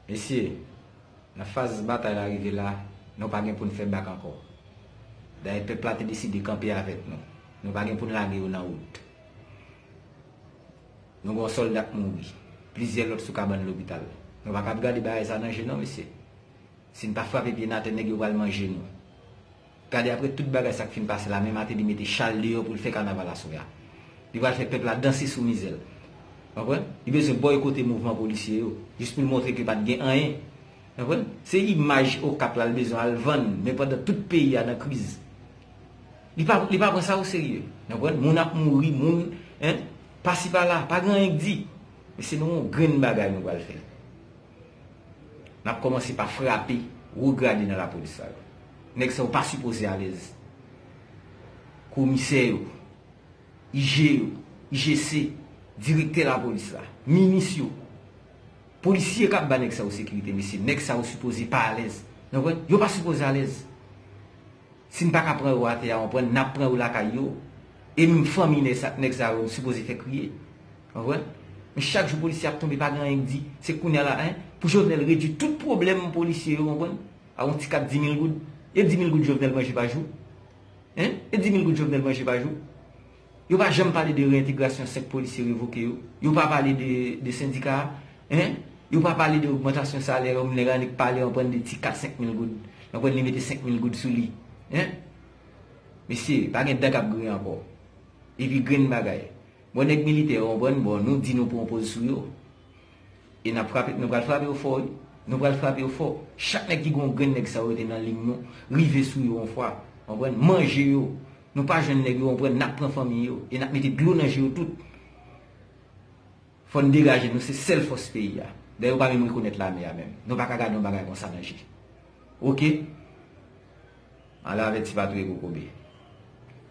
Mesye, nan faz batay la rive la, nou pa gen pou n fè bak ankò. Dayè pèp la te deside kanpe avèk nou. Nou pa gen pou n lage yo nan wout. Nou gen yon sòlda k mouri. Plizyè lòt sou kabann lopital. Nou pa kab gade bagay sa nan je non mesye. Si n pa frape pye n atè nèg yo pral manje nou. Gade apre tout bagay sak fin pase la men Martelly mete chal deyò poul fè kanaval aswè a. Li pral fè pèp la danse sou mizèl. Konprann? Li bezwen bòykote mouvman polisye yo jis poul montre ke pat gen anyen. Konprann? Se imaj Okap lal bezwen al vann men pandan tout peyi a nan kriz. Li pa li pa pran sa o serye. Konprann? Moun ap mouri, moun hein pasi pala, pa gen anyen k di. Men se nou on grenn bagay nou pral fè. Nap komanse pa frape wo grade nan lapolis sa yo. Neg sa yo pa sipoze alez. Komisè yo, IG yo, IGC, direktè lapolis la, minis yo, polisye kap ba neg sa yo sekirite mesye neg sa yo sipoze pa alez. Nan wè? Yo pa sipoze alez. Si m paka pran yo ate a anpwen n ap pran yo lakay yo e m fanmi nèg sa yo m sipoze fè kriye anpwen men chak jou polisye ap tonbe pa gen anyen k di se kounya la hein pou jovenel redwi tout pwoblèm polisye yo anpwen a yon ti kat dimil goud e dimil goud jovenel manje pa jou hein e dimil goud jovenel manje pa jou. Yo pa janm pale de reentegrasyon 5 polisye revoke yo. Yo pa pale de sendika a. Hein? Yo pa pale de ogmantasyon salè yo. Nèg la annik pale anpren de ti kat 5 mil goud. Anpren li mete 5 mil goud sou li. Hein? Mesye, pa gen dan k ap griyen ankò. E pi grenn bagay. Bon nèg militè yo anpren bon nou di nou pran poz sou yo. E n ap frape, nou pral frape yo fò wi. Nou pral frape yo fò. Chak nèg ki gen yon grenn nèg sa yo rete nan liy nou. Rive sou yo yon fwa. Anpren? Manje yo. Nou pa jwenn nèg yo konprann nap pran fanmi yo e nap mete dlo nan je yo tout fòn degaje nou se sèl fòs peyi a dayè yo pa menm rekonèt lame a menm nou paka gade yon bagay konsa nan je ok ala avèti pa touye kokobe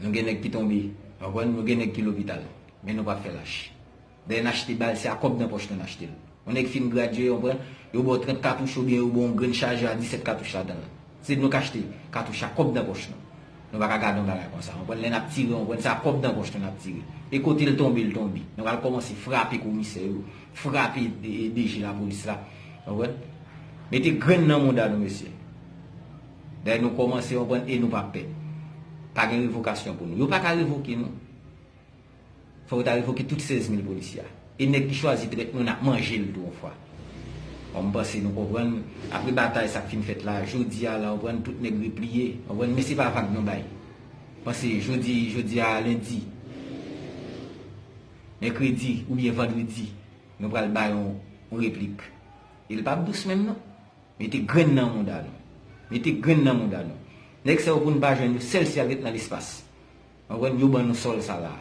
nou gen nèg ki tonbe nou gen nèg ki lopital men nou pa fè lach. Lè n achte bal se a kòb nan pòch nou n achte l. Yon nèg fin gradye, yon pran, yo ba w 30 katouch oubyen yo ba w yon grenn chajè a 17 katouch ladan l. Se nou k achte katouch a kòb nan pòch nou. Nou pa ka gade yon bagay konsa. Konprann? Lè n ap tire, konprann se a kòb nan pòch nou n ap tire. E kote l tonbe l tonbe. Nou pral kòmanse frape komisè yo, frape DG lapolis la. Konprann? Mete grenn nan mouda nou mesye. Dayè nou kòmanse, konprann, e nou pa pè. Pa gen revokasyon pou nou. Yo pa ka revoke nou. Fòk yo ta revoke tout 16 mil polisye a. E nèg ki chwazi trèt mwen ap manje l tou yon fwa. Bon m panse nou konprann. Apre batay sa k fin fèt la, jodi a la konprann tout nèg repliye. Konprann men se pa vag nou bay. Panse jodi jodi a lendi, mèkredi oubyen vandredi nou pral bay yon replik. E l pap dous menm non. Mete grenn nan mouda nou. Mete grenn nan mouda nou. Nèg sa yo pou n pa jwenn yo sèl si y al ret nan lespas. Mwen wè yo ban nou sòl sa la.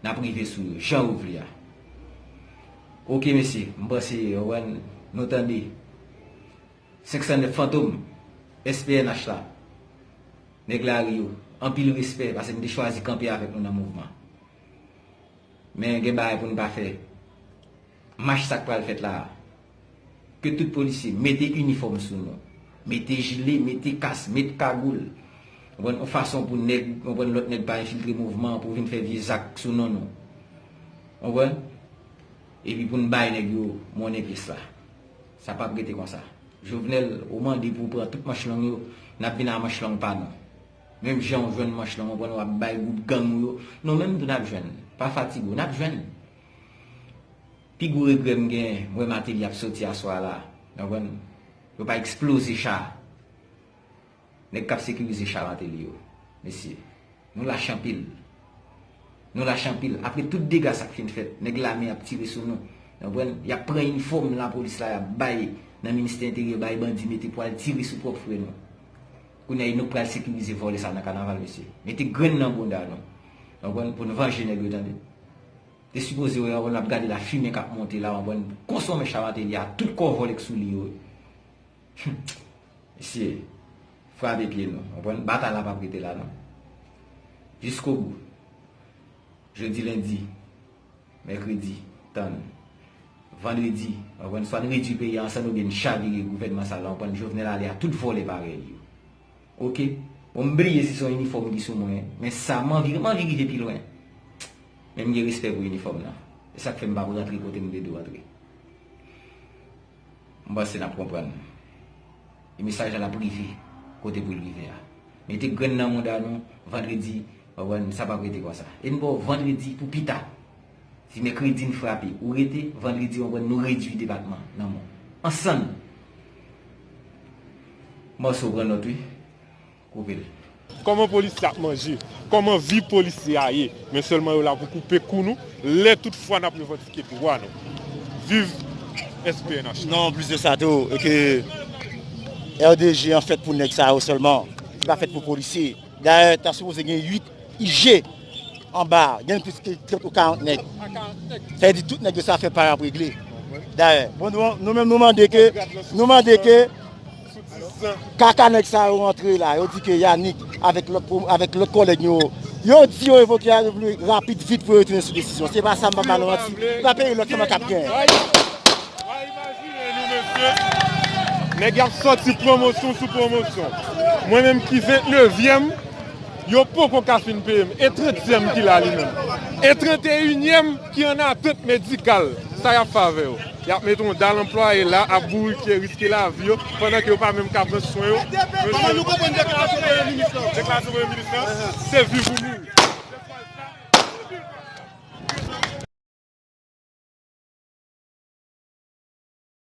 Nap rive sou yo jan yo vle a. Ok mesye, m panse ou wè nou tande 509 fantom SPNH la. Nèg lari yo, anpil respè pase nou te chwazi kanpe avèk nou nan mouvman. Men gen bagay pou nou pa fè. Mach sak pral fèt la a. Ke tout polisye mete inifòm sou nou. Mete jile, mete kas, met kagoul. Ou konprann? Yon fason pou nèg, ou konprann, lòt nèg pa enfiltre mouvman an pou vin fè vye zak sou non nou. Ou konprann? Epi pou n bay nèg yo monnen pyès la. Sa pap rete konsa. Jovenel, ou mande pou w pran tout manch long yo, n ap vin a manch long pa nou. Menm jan ou jwenn manch long, ou konprann, w ap bay gwoup gang ou yo, nou menm tou n ap jwenn. Pa fatige w. N ap jwenn. Pi gwo regrè m gen m wè Martelly ap soti aswa la nou konprann yo pa eksploze cha nèg kap sekirize cha Martelly yo mesye nou lach anpil nou lach anpil apre tout dega sak fin fèt nèg lame ap tire sou nou nou konprann yap pran inifòm lapolis la yap bay nan ministè enteryè bay bandi mete pou al tire sou pwòp frè nou. Kounya nou pral sekirize vòlè sa nan kanaval mesye. Mete grenn nan bounda nou. Anpwen pou nou vanje nèg yo tande. Te sipoze wè anpwen nap gade la fimen kap monte la anpwen konsonmen Cha Martelly a tout kò vòlè k sou li yo wi. Humm mesye frape pye nou anpwen batay la pap rete la non. Jiskobou. Jodi lendi. Mèkredi, Tann. Vandredi, Ankò yn fwa n redwi peyi a an sann oubyen n chavire gouvènman sal la an prann Jovenel ale a tout vòlè parèy li yo. Ok. Bon m bliye si son inifòm ki sou mwen men sa m anvi m anvi rive pi lwen men m gen respè pou inifòm nan e sa k fè m pa p rantre kote m te dwe rantre. M panse n ap konprann. E mesaj la lap rive kote pou l rive a. Mete grenn nan mouda nou vandredi ou konprann sa pap rete konsa. E n ba w vandredi pou pita. Si mèkredi n frape ou rete vandredi ou konprann nou redui depatman nan mou. Ansann! Mòso pran nòt wi. koupel. Koman polisye ap manje? Koman vi polisye a ye? Men selman yo la pou koupe kou nou lè tout fwa nap revandike dwa nou. Viv SPNH. Non anplis de sa tou e ke RDG an fèt pou nèg sa yo sèlman, li pa fèt pou polisye. Dayè ta sipoze gen 8 IG anba gen plis ke 30 ou 40 nèg. Sa vle di tout nèg yo sa fè pa yo ap regle. Dayè bon nou menm nou mande ke nou mande ke Kaka nèg sa yo rantre la, yo di ke Yanick avèk lòt avèk lòt kòlèg yo, yo di yo revoke a le pli rapid vit pou yo retounen sou desizyon. Se pa sa m pa ba nou manti. Se pa peyi lòk selman k ap gen. Wa imajine nou mesye, nèg y ap sòti pwomosyon sou pwomosyon. Mwen menm ki ventnevyèm, yo poko ka fin peye m. E trantyèm ki la li menm? E tranteyinyenm? ki an atant medikal sa y ap fè avè yo. Y ap mete yon dal anplwaye la ap bourifye, riske lavi yo, pandan ke yo pa menm ka pran swen yo. Kòman nou konprann deklarasyon Premye Minis lan? Deklarasyon Premye Minis lan, se viv ou mouri.